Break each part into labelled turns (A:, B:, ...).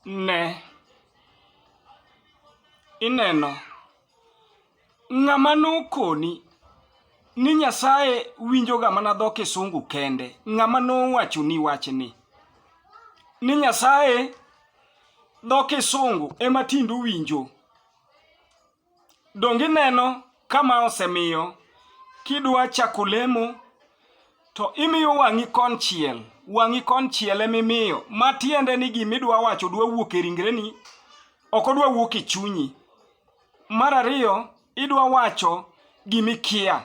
A: Ne, ineno, ng'ama nokoni ni Nyasaye winjoga mana dho Kisungu kende, ng'ama nowachoni wachni ni Nyasaye dho Kisungu ema tinde uwinjo. Donge ineno kama osemiyo kidwa chako lemo to imiyo wang'i konchiel wang'i konchiel emimiyo ma tiende ni gima idwa wacho dwa wuok e ringreni ok odwa wuok e chunyi mar ariyo idwa wacho gimikia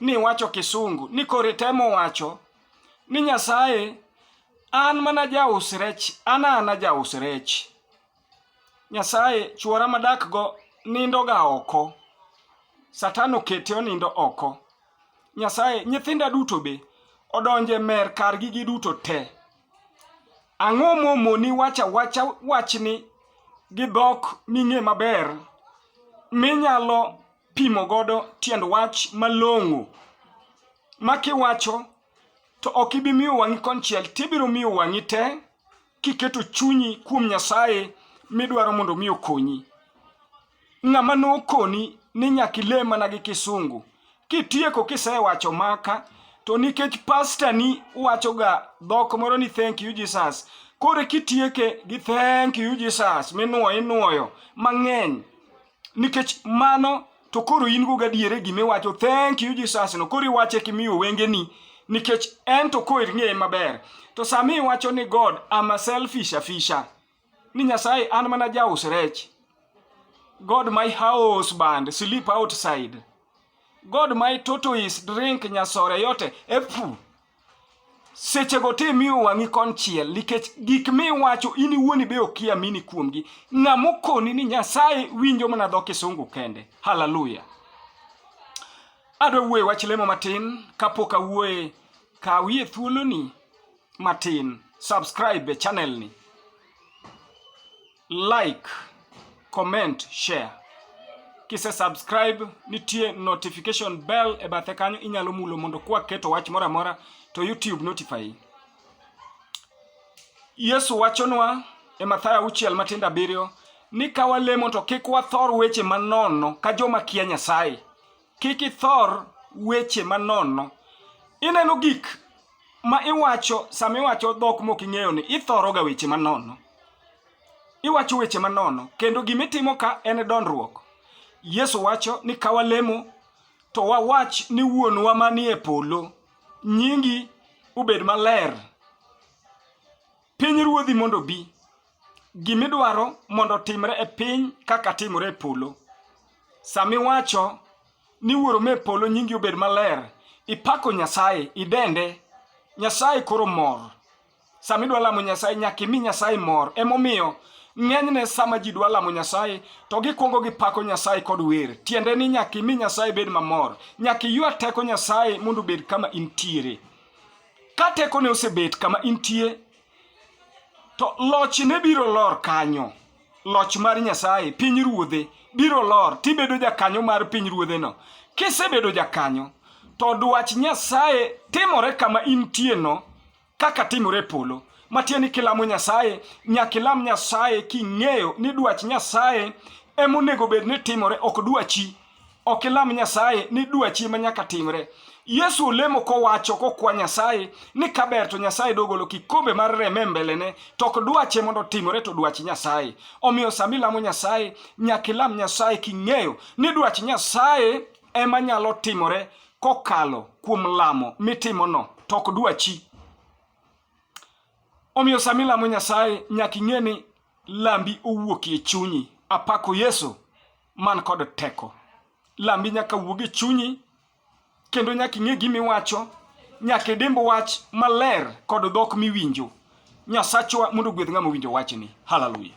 A: ni iwacho kisungu ni koro itemo wacho ni Nyasaye an mana jaus rech an ana jaus rech Nyasaye chuora madakgo nindoga oko Satan okete onindo oko Nyasaye nyithinda duto be odonje mer kargi gi duto te ang'o momoni wacha wacha wachni gi dhok ming'e maber minyalo pimo godo tiend wach malong'o ma kiwacho to ok ibi miyo wang'i konchiel tibiro miyo wang'i te kiketo chunyi kuom Nyasaye midwaro mondo mi okonyi. Ng'ama nokoni ni nyaka ile mana gi kisungu kitieko kisewacho maka to nikech pasta ni wachoga dhok moro ni thank you Jesus koro kitieke gi thank you Jesus minuoyo inuoyo mang'eny nikech mano to koro in go gadiere gima iwacho thank you jesus no koro iwache kimiyo wengeni nikech en to koro ing'eye maber to sama iwacho ni god am a selfish afisha ni nyasaye an mana jaus rech god my house band sleep outside god my tortoise drink nyasore yote epu sechego te miyo wang'i konchiel nikech gik miwacho in iwuon ibe okia mini kuomgi ng'a mokoni ni nyasaye winjo mana dho kisungu kende haleluya adwa wuoye wach lemo matin kapok awuoye kawie thuoloni matin subscribe e channel ni like, comment, share. Kise subscribe nitie notification bell e bathe kanyo inyalo mulo mondo kwa keto wach moro amora to YouTube notify. Yesu wachonwa e Mathayo auchiel matindo abiriyo ni ka walemo to kik wathor weche manono ka joma kia Nyasaye Kik ithor weche manono. Ineno gik ma iwacho sama iwacho dhok mok ing'eyo ni ithoroga weche manono. Iwacho weche manono kendo gima itimo ka en dondruok. Yesu wacho ni ka walemo to wawach ni wuonwa manie polo nyingi obed maler Piny ruodhi mondo obi. Gimidwaro mondo otimre e piny kaka timore e polo. Sami wacho ni wuoro me polo nyingi obed maler, ipako Nyasaye, idende. Nyasaye koro mor. Sami dwa lamo Nyasaye nyaka imi Nyasaye mor. Emomiyo ng'enyne sama ji dwa lamo Nyasaye to gikwongo gipako Nyasaye kod wer. Tiende ni nyaka imi Nyasaye bed mamor. Nyaka iywa teko Nyasaye mondo obed kama intiere. Ka tekone osebet kama intie, to lochne biro lor kanyo. Loch mar Nyasaye, piny ruodhe, biro lor tibedo jakanyo mar piny ruodheno. Kisebedo jakanyo, to dwach Nyasaye timore kama intieno kaka timore e polo. Matiende ni kilamo Nyasaye, nyaka ilam Nyasaye king'eyo ni dwach Nyasaye emonego bed ni timore, ok dwachi. ok ilam Nyasaye ni dwachi ma nyaka timre. Yesu olemo kowacho kokwa Nyasaye ni kaber to Nyasaye dogolo kikombe mar reme mbelene to ok dwache mondo timore to dwach Nyasaye. Omiyo sama ilamo Nyasaye nyaka ilam Nyasaye king'eyo ni dwach Nyasaye ema nyalo timore kokalo kuom lamo mitimono to ok dwachi. Omiyo sama ilamo Nyasaye nyaka ing'e ni lambi owuokie chunyi. Apako Yesu. man kod teko. Lambi nyaka wuog e chunyi kendo nyaka ing'e gima iwacho, nyaka idimb wach maler kod dhok miwinjo. Nyasachwa mondo ogwedh ng'ama owinjo wachni. Hallelujah.